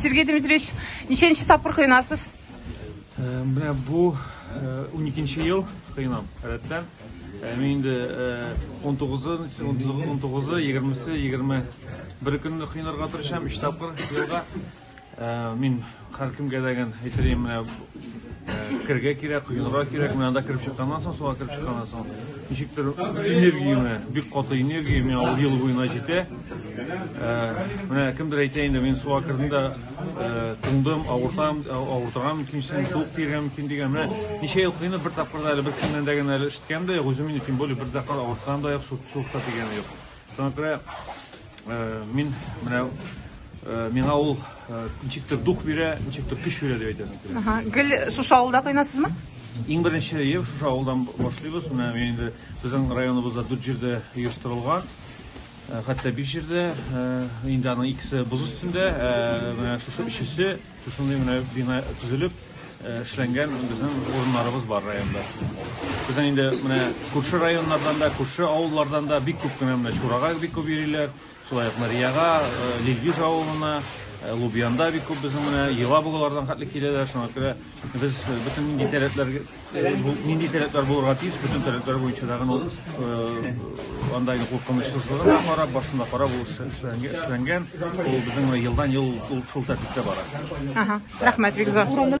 Сергей Дмитриевич, ничәнче тапкыр коенасыз? Менә бу уникенче ел коенам, рәттән. Мин инде унтугызы, унтугызы, егермесе, егерме бер көнне коенырга тырышам, өч тапкыр елга. Мин һәркемгә дә әйтер идем, менә кергә кирәк, коенырга кирәк. Менә анда кереп чыкканнан соң, суга кереп чыкканнан соң, ничектер энергия менә, бик каты энергия менә ул ел буена җитә. Э, менә кемдер әйтә инде, мин суга кердем дә э, туңдым, авыртам, авыртырган мөмкин, суык тиргән мөмкин дигән. Менә ничә ел кыйнып бер тапкыр да әле бер кемнән дә генә әле ишеткән дә юк, үзем инде тем более бер тапкыр авырткан да юк, суыкта тигән юк. Шуңа күрә мин менә миңа ул ничектер дух бирә, ничектер көч бирә дип әйтәсем килә. Гел шушы авылда кыйнасызмы? Иң беренче ел шушы авылдан башлыйбыз. Менә инде безнең районыбызда дүрт җирдә оештырылган. Хәтта биш җирдә инде аның икесе боз өстендә, менә шушы өчесе Шушындый менә бина төзелеп, эшләнгән безнең урыннарыбыз бар районда. Безнең инде менә күрше районнардан да, күрше авыллардан да бик күп кенә менә Чурага бик күп йөриләр, шулай ук Марияга, Лилгиз авылына, Лубьянда бик күп безнең менә Ела бугалардан хәтле киләләр, шуңа күрә без бөтен нинди таләпләргә Нинди таләпләр булырга тиеш? Бөтен таләпләр буенча тагын ул анда инде куркынычсызлыгын да карап, барсын да карап, ул эшләнгән. Ул безнең елдан-ел ул шул тәртиптә бара. Ага, рәхмәт, бик зур.